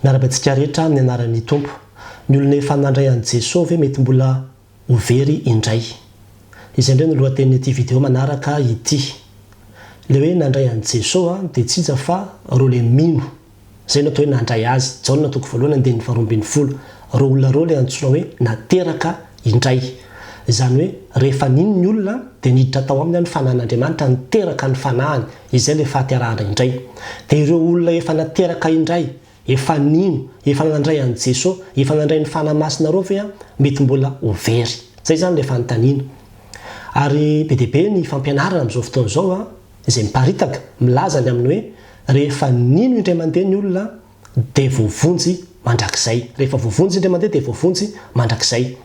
Miarahaba antsika rehetra amin'ny anaran'ny Tompo. Ny olona efa nandray an'i Jesoa ve mety mbola ho very indray? Izay indray no lohatenin'ity video manaraka ity. Ilay hoe nandray an'i Jesoa dia tsy iza fa ireo ilay mino. Izay no atao hoe nandray Azy. Jaona toko voalohany andininy faharoa ambin'ny folo. Ireo olona ireo ilay antsoina hoe nateraka indray. Izany hoe rehefa nino ny olona dia niditra tao aminy ny Fanahin'Andriamanitra niteraka ny Fanahiny. izay ilay fahaterahandrao indray. Dia ireo olona efa nateraka indray, efa nino, efa nandray an'i Jeso, efa nandray ny Fanahy Masina ireo ve mety mbola ho very? Izay izany ilay fanontaniana. Ary be dia be ny fampianarana amin'izao fotoana izao izay miparitaka, milaza ny amin'ny hoe rehefa nino indray mandeha ny olona, dia voavonjy mandrakizay. Rehefa voavonjy indray mandeha dia voavonjy mandrakizay.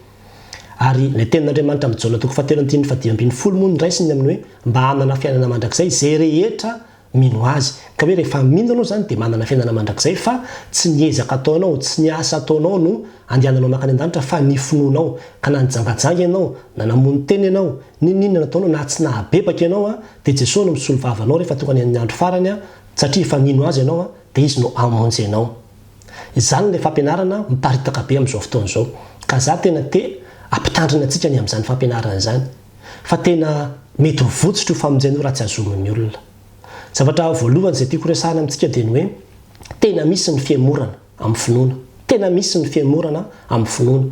Ary ilay tenin'Andriamanitra amin'i Jaona toko fahatelo andininy fahadimy ambin'ny folo moa no raisiny amin'ny hoe mba hanana fiainana mandrakizay izay rehetra mino Azy. Ka hoe rehefa mino ianao izany dia manana fiainana mandrakizay fa tsy ny ezaka ataonao, tsy ny asa ataonao no andehananao mankany an-danitra fa ny finoanao. Ka na nijangajanga ianao, na namono tena ianao, n'inon'inona nataonao, na tsy nahabebaka ianao dia Jesoa no misolo vava anao rehefa tonga ny andro farany satria efa mino Azy ianao dia izy no hamonjy anao. Izany ilay fampianarana miparitaka be amin'izao fotoana izao. Ka za tena te hampitandrina antsika ny amin'izany fampianarana izany. Fa tena mety ho votsotra io famonjena io raha tsy azomin'ny olona. Zavatra voalohany izay tiako horesahana amintsika dia ny hoe, tena misy ny fihemorana amin'ny finoana. Tena misy ny fihemorana amin'ny finoana.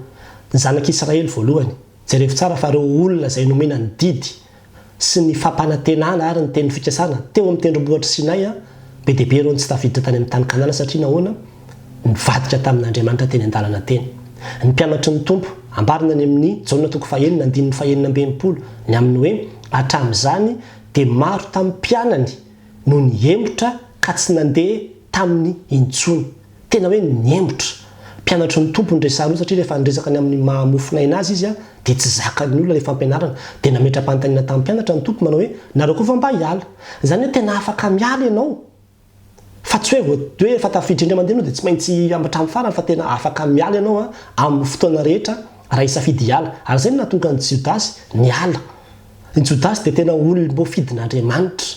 Ny zanak'Israely voalohany. Jerevo tsara fa ireo olona izay nomena ny didy sy ny fampanantenana ary ny teny fikasana teo amin'ny tendrombohitr'i Sinay, be dia be ireo no tsy tafiditra tany amin'ny tany Kanana satria nahoana? nivadika tamin'Andriamanitra teny an-dalana teny. Ny mpianatry ny Tompo, ambarina any amin'ny Jaona toko fahenina andininy fahenina amby enimpolo, ny amin'ny hoe hatramin'izany dia maro tamin'ny mpianany no nihemotra ka tsy nandeha taminy intsony. Tena hoe nihemotra. Mpianatry ny Tompo ny resahan'io satria rehefa niresaka ny amin'ny maha mofon'aina azy izy dia tsy zakan'ny olona ilay fampianarana. Dia nametra-panontaniana tamin'ny mpianatra ny Tompo manao hoe, nareo koa va mba hiala? Izany hoe tena afaka miala ianao fa tsy hoe voatery hoe efa tafiditra indray mandeha ianao dia tsy maintsy hatramin'ny farany fa tena afaka miala ianao amin'ny fotoana rehetra raha hisafidy hiala. Ary izay no nahatonga an'i Jodasy niala. I Jodasy dia tena olom-boafidin'Andriamanitra,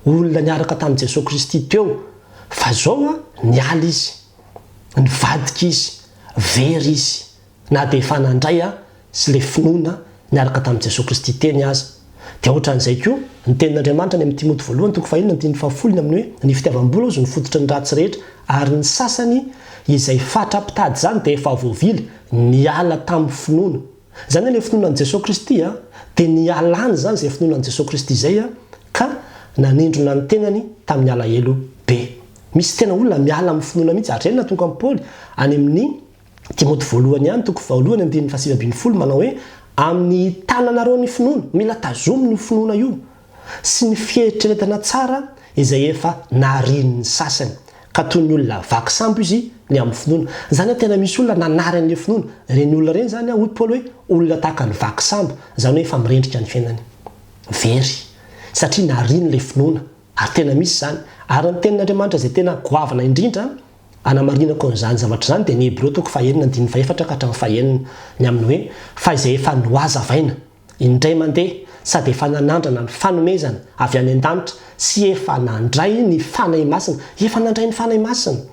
olona niaraka tamin'i Jesoa Kristy teo. Fa izao an, niala izy, nivadika izy, very izy, na dia efa nandray an, sy ilay finoana niaraka tamin'i Jesoa Kristy teny aza. Dia hoatran'izay koa, ny tenin'Andriamanitra any amin'ny Timoty voalohany toko fahenina andininy fahafolo ny amin'ny hoe, Ny fitiavam-bola hozy no fototry ny ratsy rehetra, ary ny sasany izay fatra mpitady izany dia efa voavily, niala tamin'ny finoana. Izany ilay finoana an'i Jesoa Kristy a! Dia nialany izany izay finoana an'i Jesoa Kristy izay a! Ka nanindrona ny tenany tamin'ny alahelo be. Misy tena olona miala amin'ny finoana mihitsy. Ary izay no nahatonga an'i Paoly any amin'ny Timoty voalohany ihany, toko faharoa ny andininy fahasivy ambin'ny folo, manao hoe, Amin'ny tananareo ny finoana. Mila tazomina io finoana io. sy ny fieritreretana tsara izay efa narian'ny sasany, ka toy ny olona vaky sambo izy ny amin'ny finoana. Izany hoe tena misy olona nanary an'ilay finoana. Ireny olona ireny izany, hoy Paoly hoe olona tahaka ny vaky sambo, izany hoe efa mirendrika ny fiainany very, satria nariany ilay finoana. Ary tena misy izany. Ary ny Tenin'Andriamanitra izay tena goavana indrindra hanamarinako an'izany zavatra izany dia ny Hebreo toko fahenina andininy fahefatra ka hatramin'ny fahenina, ny amin'ny hoe, Fa izay efa nohazavaina. Indray mandeha, sady efa nanandrana ny fanomezana avy any an-danitra sy efa nandray ny Fanahy Masina, efa nandray ny Fanahy Masina,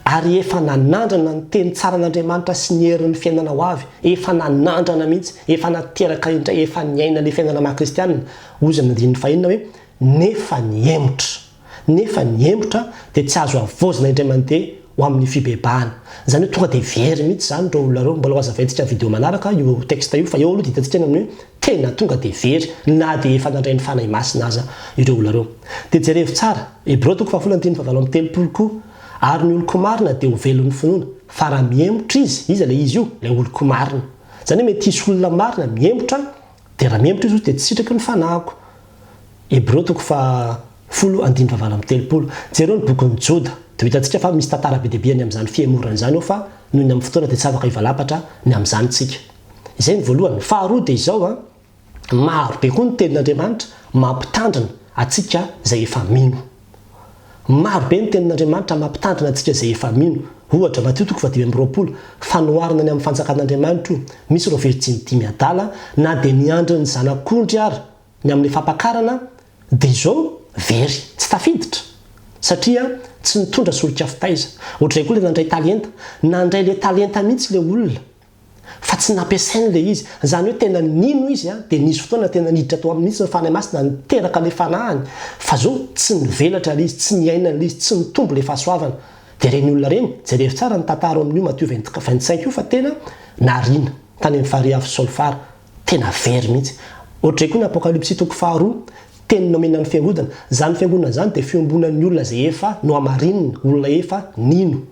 ary efa nanandrana ny teny tsaran'Andriamanitra sy ny herin'ny fiainana ho avy, efa nanandrana mihitsy, efa nateraka indray, efa niaina ilay fiainana maha-kristianina, hoy izy ny andininy fahenina hoe, nefa nihemotra. nefa ny hemotra dia tsy azo havaozina indray mandeha ho amin'ny fibebahana. Izany hoe tonga dia very mihitsy izany ireo olona ireo. Mbola hazavaintsika amin'ny video manaraka io texte io fa eo aloha dia hitantsika ny amin'ny hoe tena tonga dia very na dia efa nandray ny Fanahy Masina aza ireo olona ireo. Dia jerevo tsara Hebreo toko fahafolo andininy fahavalo amby telopolo koa, Ary ny oloko marina dia ho velon'ny finoana. Fa raha mihemotra izy, iza ilay izy io? Ilay oloko marina. Izany hoe mety hisy olona marina mihemotra dia raha mihemotra izy hoy dia tsy sitraky ny fanahiko. Hebreo toko faha folo andininy faha valo amby telopolo. Jereo ny bokin'ny Joda, dia ho hitantsika fa misy tantara be dia be any amin'izany fihemorana izany ao fa noho ny amin'ny fotoana dia tsy afaka hivalampatra ny amin'izany isika. Izay ny voalohany. Faharoa dia izao an, maro be koa ny tenin'Andriamanitra mampitandrina antsika izay efa mino. Maro be ny Tenin'Andriamanitra mampitandrina antsika izay efa mino. Ohatra, Matio toko fahadimy amby roapolo, Fanoharana ny amin'ny Fanjakan'Andriamanitro, misy ireo virjiny dimy adala, na dia niandry ny zanak'ondry ary ny amin'ny fampakarana, dia izao, very, tsy tafiditra, satria tsy nitondra solika fitaiza. Ohatr'izay koa ilay nandray talenta. Nandray ilay talenta mihitsy ilay olona. fa tsy nampiasainy ilay izy, izany hoe tena nino izy an, dia nisy fotoana tena niditra tao aminy mihitsy ny Fanahy Masina niteraka ilay fanahiny, fa zao tsy nivelatra ilay izy, tsy niaina an'ilay izy, tsy nitombo ilay fahasoavana, dia ireny olona ireny, jereo tsara ny tantaro amin'io Matio vingt, vingt cinq io fa tena nariana tany amin'ny farihy avo Solfara, tena very mihitsy, ohatr'izay koa ny Apokalypsy toko faharoa, teny nomena ny fiangodana, izany fiangonana izany dia fiombonan'ny olona izay efa nohamarinina, olona efa nino.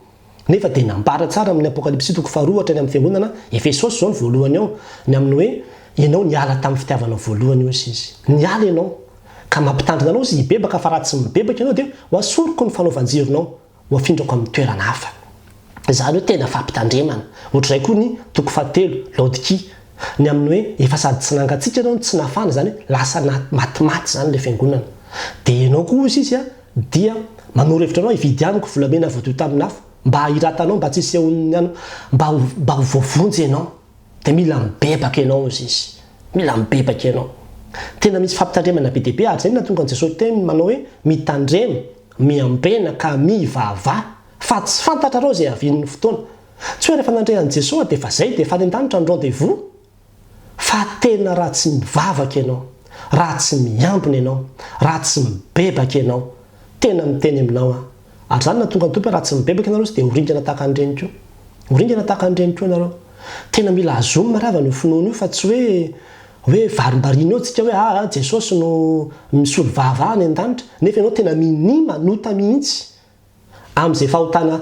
Nefa dia nambara tsara amin'ny Apokalypsy toko faharoa hatrany amin'ny fiangonana Efesosy izao ny voalohany ao, ny amin'ny hoe, Ianao niala tamin'ny fitiavanao voalohany, hozy izy. Niala ianao, ka mampitandrina anao izy hibebaka, fa raha tsy mibebaka ianao dia hoasoriko ny fanaovan-jironao, hoafindrako amin'ny toerana hafa. Izany hoe tena fampitandremana. Ohatr'izay koa ny toko fahatelo, Laodikia, ny amin'ny hoe, Efa sady tsy nangatsiaka ianao no tsy nafana, izany hoe lasa na, matimaty izany ilay fiangonana. Dia ianao koa, hozy izy, Dia manoro hevitra anao hividy amiko volamena voadio tamin'ny afo, mba hahiratanao, mba tsy hisehon'ny anao, mba ho, mba ho voavonjy ianao. Dia mila mibebaka ianao, hozy izy. Mila mibebaka ianao. Tena misy fampitandremana be dia be, ary izay no nahatonga an'i Jesosy teny manao hoe, Mitandrema, miambena, ka mivavaha, fa tsy fantatrareo izay havian'ny fotoana. Tsy hoe rehefa nandre an'i Jesosy dia efa izay, dia efa any an-danitra ny rendez-vous. fa tena raha tsy mivavaka ianao, raha tsy miambina ianao, raha tsy mibebaka ianao, tena miteny aminao aho, ary izany nahatonga ny Tompo hoe raha tsy mibebaka ianareo izy dia ho ringana tahaka an'ireny koa, ho ringana tahaka an'ireny koa ianareo. Tena mila azom mariavana io finoana io fa tsy hoe hoe varimbariana eo tsika hoe aa Jesosy no misolo vava any an-danitra nefa ianao tena minia manota mihitsy Amin'izay fahotana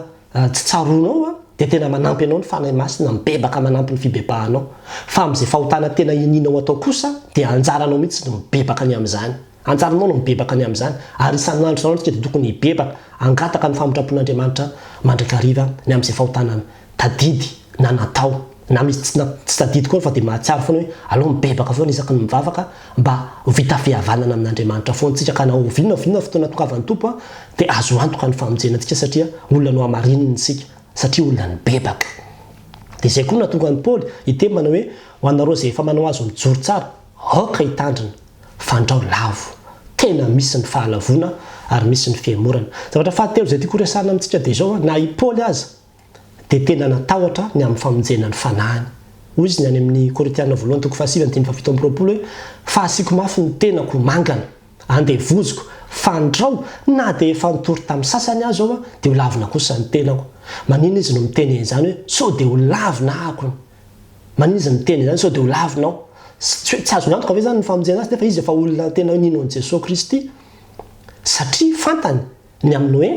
tsy tsaroanao dia tena manampy anao ny Fanahy Masina mibebaka manampy ny fibebahanao. Fa amin'izay fahotana tena inianao atao kosa dia anjaranao mihitsy ny mibebaka ny amin'izany. Anjaranao ny mibebaka ny amin'izany. Ary isan'andro isan'andro isika dia tokony hibebaka hangataka ny famindrapon'Andriamanitra mandrakariva ny amin'izay fahotana tadidy na natao, na misy tsy tsy tadidy koa fa dia mahatsiaro foana hoe aleo mibebaka foana isaky ny mivavaka mba ho vita fihavanana amin'Andriamanitra foana tsika ka na ho oviana na oviana ny fotoana tokavan'ny Tompo an dia azo antoka ny famonjena antsika satria olona nohamarininy isika satria olona nibebaka. Dia izay koa no nahatonga an'i Paoly hiteny manao hoe ho anareo izay efa manao azy mijoro tsara aoka hitandrina fandrao lavo tena misy ny fahalavoana ary misy ny fihemorana. Zavatra fahatelo izay tiako horesahana amintsika dia izao an, na i Paoly aza dia tena natahotra ny amin'ny famonjena ny fanahiny. Hoy izy ny any amin'ny Korintiana voalohany toko fahasivy andininy fahafito amby roapolo hoe, Fa asiako mafy ny tenako ho mangana, andevoziko, fandrao, na dia efa nitory tamin'ny sasany aza aho, dia holavina kosa ny tenako. Maninona izy no miteny an'izany hoe, Sao dia holavina ahako ny. Maninona izy miteny an'izany, Sao dia holavina aho. Tsy hoe tsy azony antoka ve izany ny famonjena azy, nefa izy efa olona tena nino an'i Jesoa Kristy, satria fantany ny amin'ny hoe,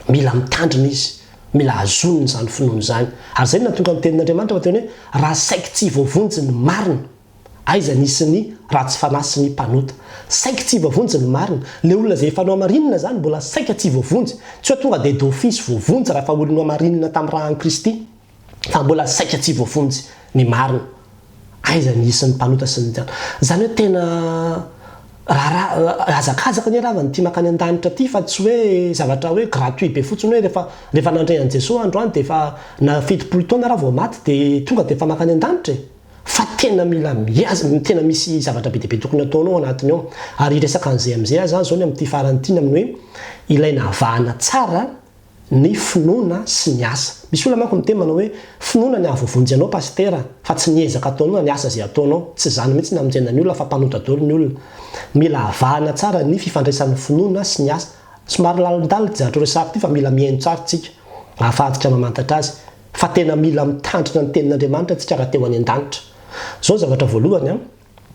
Mila mitandrina izy, mila hazoniny izany finoany izany. Ary izay no nahatonga ny Tenin'Andriamanitra ho teny hoe, Raha saiky tsy voavonjy ny marina, aiza ny isin'ny ratsy fanahy sy ny mpanota? Saiky tsy voavonjy ny marina. Ilay olona izay efa nohamarinina izany mbola saika tsy voavonjy. Tsy hoe tonga dia d'office voavonjy raha efa olona nohamarinina tamin'ny rà an'i Kristy. fa mbola saika tsy voafonjy ny marina. Aiza ny isan'ny mpanota sy ny jadona? Izany hoe tena raharaha hazakazaka anie rava ny tia makany an-danitra ity fa tsy hoe zavatra hoe gratuit be fotsiny hoe rehefa rehefa nandre an'i Jesoa androany dia efa na fitopolo taona raha vao maty dia tonga dia efa makany an-danitra e! Fa tena mila miha tena misy zavatra be dia be tokony ataonao anatiny ao. Ary hiresaka an'izay amin'izay aza aho izao ny amin'ity farany ity ny amin'ny hoe ilay navahana tsara ny finoana sy ny asa. Misy olona manko miteny manao hoe finoana ny ahavovonjy anao pasitera fa tsy ny ezaka ataonao na ny asa izay ataonao. Tsy izany mihitsy ny amonjena ny olona fa mpanota dolo ny olona. Mila avahana tsara ny fifandraisan'ny finoana sy ny asa. Somary lalindalina ity zavatra horesahako ity fa mila mihaino tsara isika ahafahantsika mamantatra azy fa tena mila mitandrina ny tenin'Andriamanitra isika raha te ho any an-danitra. Izao ny zavatra voalohany an.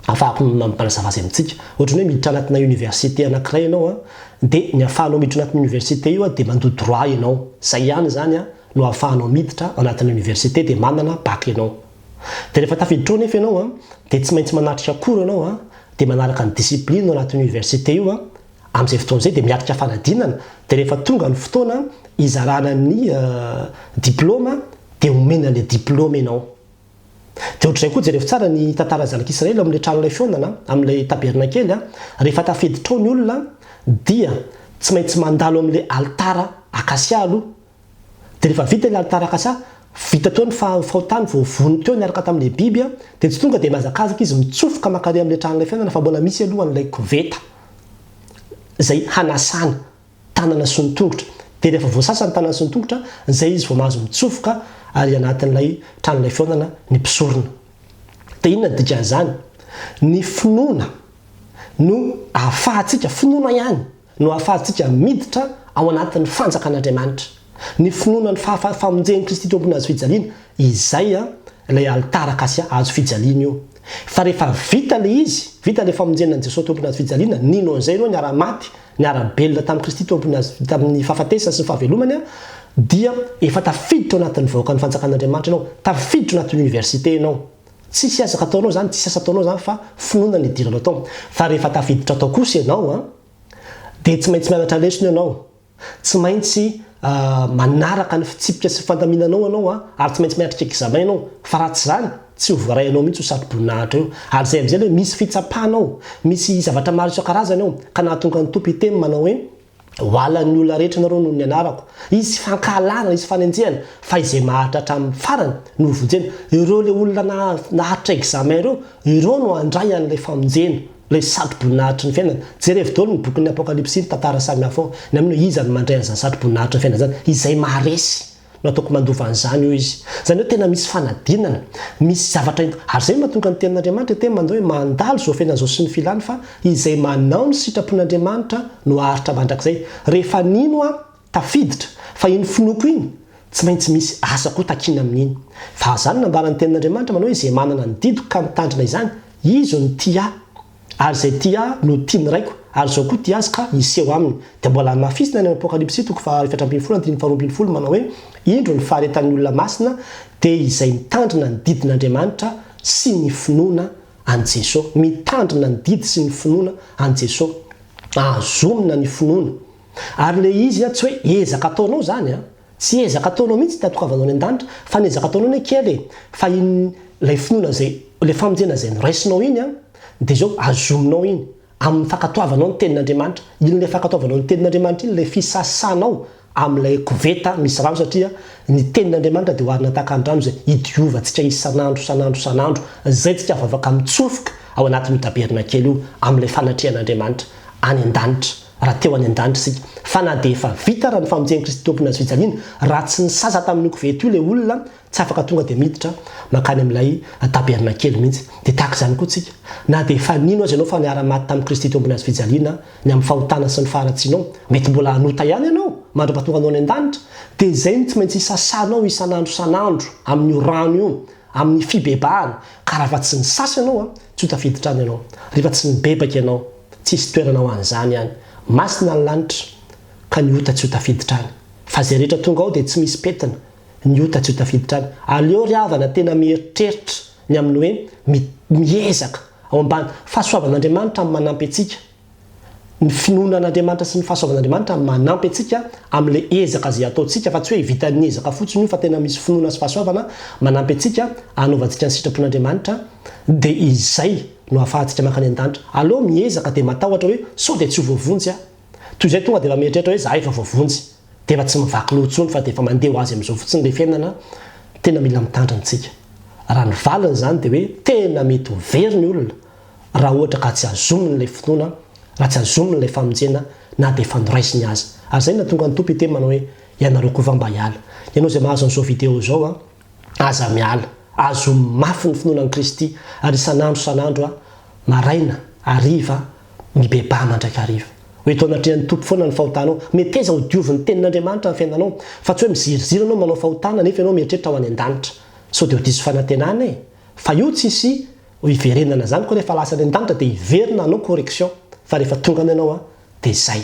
afahako manazava azy amintsika. Ohatran'ny hoe miditra anatina université anankiray ianao an, dia ny afahanao miditra anatin'io université io an, dia mandoa droit ianao. Izay ihany izany an, no ahafahanao miditra anatin'ny université dia manana bac ianao. Dia rehefa tafiditra ao anefa ianao an, dia tsy maintsy manatrika cours ianao an, dia manaraka ny discipline ao anatin'io université io an, amin'izay fotoana izay dia miatrika fanadinana, dia rehefa tonga ny fotoana hizarana ny diploma dia omena ilay diploma ianao. Dia ohatr'izay koa, jerevo tsara ny tantaran'ny zanak'Israely ao amin'ilay tranolay fihaonana an, amin'ilay tabernakely an, rehefa tafiditra ao ny olona dia tsy maintsy mandalo amin'ilay alitara akasia aloha. Dia rehefa vita ilay alitara akasia, vita teo ny fahotany, voavono teo niaraka tamin'ilay biby an, dia tsy tonga dia mihazakazaka izy mitsofoka mankary amin'ilay tranolay fihaonana fa mbola misy aloha an'ilay koveta izay hanasana. tanana sy ny tongotra. Dia rehefa voasasa ny tanana sy ny tongotra, izay izy vao mahazo mitsofoka ary anatin'ilay tranolay fihaonana ny mpisorona. Dia inona ny dikan'izany? Ny finoana no ahafahantsika, finoana ihany, no ahafahantsika miditra ao anatin'ny fanjakan'Andriamanitra. Ny finoana ny fahafa, famonjen'i Kristy teo ambony hazo fijaliana, izay an, ilay alitara akasia, hazo fijaliana io. Fa rehefa vita ilay izy, vita ilay famonjena an'i Jesoa teo ambony hazo fijaliana, nino an'izay ianao niara-maty, niara-belona tamin'i Kristy Tompony azy tamin'ny fahafatesany sy ny fahavelomany, dia efa tafiditra ao anatin'ny vahoakan'ny fanjakan'Andriamanitra ianao, tafiditra ao anatin'ny oniversite ianao. Tsisy ezaka ataonao izany, tsisy asa ataonao izany fa finoana no idiranao tao. Fa rehefa tafiditra tao kosa ianao an, dia tsy maintsy mianatra lesona ianao, tsy maintsy manaraka ny fitsipika sy ny fandaminanao ianao ary tsy maintsy miatrika examen ianao, fa raha tsy izany, Tsy ho voaray anao mihitsy io satroboninahitra io, ary izay amin'izay aloha misy fitsapana ao, misy zavatra maro isan-karazany ao, ka nahatonga ny Tompo hiteny manao hoe, Ho alan'ny olona rehetra ianareo noho ny anarako. Hisy fankahalana, hisy fanenjehana, fa izay maharitra hatramin'ny farany no ho vonjena. Ireo ilay olona naharitra examen ireo, ireo no handray an'ilay famonjena, ilay satroboninahitry ny fiainana. Jerevo daholo ny bokin'ny Apokalypsy sy ny tantara samihafa ao, na mino hoe iza no mandray an'izany satroboninahitry ny fiainana izany, izay maharesy. Nataoko mandova an'izany io izy. Izany hoe tena misy fanadinana, misy zavatra ent-. Ary izay no mahatonga ny Tenin'Andriamanitra hiteny mandao hoe mandalo izao fiainana izao sy ny filany fa izay manao ny sitrapon'Andriamanitra no haharitra mandrakizay. Rehefa nino aho, tafiditra, fa iny finoako iny, tsy maintsy misy asa koa takiana amin'iny. Fa izany nambaran'ny Tenin'Andriamanitra manao hoe izay manana ny didiko ka mitandrina izany, izy no tia ahy. Ary izay tia ahy no tia ny Raiko, ary izao koa tia azy ka miseho aminy. Dia mbola hamafisina any amin'ny Apokalypsy toko fahaefatra ambin'ny folo andininy faharoa ambin'ny folo manao hoe, Indro ny faharetan'ny olona masina dia izay mitandrina ny didin'Andriamanitra sy ny finoana an'i Jeso. Mitandrina ny didy sy ny finoana an'i Jeso. Ahazomina ny finoana. Ary ilay izy tsy hoe ezaka ataonao izany an! Tsy ezaka ataonao mihitsy tiatokavanao any andanitra fa ny ezaka ataonao anie kely e, fa iny lay finoana zay, lay famonjena zay noraisinao iny an, de zao azominao iny aminy fakatoavanao ny tenin'Andriamanitra, iny lay fakatoavanao ny tenin'Andriamanitra iny lay fisasanao amilay koveta misy rano satria ny tenin'Andriamanitra de oharina tahaka ny rano zay idiovantsika isan'andro isan'andro isan'andro zay tsika vao afaka mitsofoka ao anatin'io tabernakel io amilay fanatrehan'Andriamanitra any andanitra. Raha teo any an-danitra isika, fa na dia efa vita ary ny famonjen'i Kristy Tompon'ny Hazo fijaliana, raha tsy nisasa tamin'io koveta io ilay olona, tsy afaka tonga dia miditra mankany amin'ilay tabernakely mihitsy. Dia tahaka izany koa isika, na dia efa nino aza ianao fa niara-maty tamin'i Kristy Tompon'ny Hazo fijaliana ny amin'ny fahotana sy ny faharatsianao, mety mbola hanota ihany ianao mandra-pahatonga anao any an-danitra, dia izay no tsy maintsy hisasanao isan'andro isan'andro amin'io rano io, amin'ny fibebahana, ka raha efa tsy nisasa ianao, Tsy ho tafiditra any ianao. Rehefa tsy nibebaka ianao, tsy hisy toerana ho an'izany any. Masina ny lanitra, ka ny ota tsy ho tafiditra any. Fa izay rehetra tonga ao dia tsy misy pentina, ny ota tsy ho tafiditra any. Aleo ry havana tena mieritreritra ny amin'ny hoe, mi, miezaka, ao ambany fahasoavan'Andriamanitra amin'ny manampy antsika. Ny finoana an'Andriamanitra sy ny fahasoavan'Andriamanitra manampy antsika amin'ilay ezaka izay ataontsika, fa tsy hoe vitan'ny ezaka fotsiny io fa tena misy finoana sy fahasoavana manampy antsika hanaovantsika ny sitrapon'Andriamanitra, dia izay no ahafahantsika mankany an-danitra. Aleo miezaka dia matahotra hoe sao dia tsy ho voavonjy aho. Toy izay tonga dia efa mieritreritra hoe za efa voavonjy, dia efa tsy mivaky loha intsony fa dia efa mandeha ho azy amin'izao fotsiny ilay fiainana, tena mila mitandrina isika. Raha ny valiny izany dia hoe tena mety ho very ny olona. raha ohatra ka tsy azominy ilay finoana, raha tsy azominy ilay famonjena na dia efa noraisiny aza. Ary izay no nahatonga ny Tompo hiteny manao hoe, Ianareo koa va mba hiala? Ianao izay mahazo an'izao video izao an! Aza miala! Azomy mafy ny finoana an'i Kristy, ary isan'andro isan'andro an, maraina, hariva, mibebaha mandrakariva. Ho eto anatrehan'ny Tompo foana ny fahotanao. Meteza ho diovin'ny Tenin'Andriamanitra ny fiainanao, fa tsy hoe miziriziry ianao manao fahotana nefa ianao mieritreritra ho any an-danitra. Sao dia ho diso fanantenana e! Fa io tsy hisy Ho hiverenana zany ko rehefa lasa any an-danitra dia hiverina hanao correction fa rehefa tonga any ianao dia zay,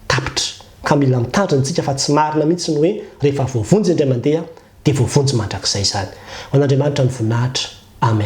tapitra, ka mila mitandrina tsika fa tsy marina mihitsy ny hoe rehefa voavonjy indray mandeha dia voavonjy mandrakizay zany. Ho an'Andriamanitra ny voninahitra. Amen.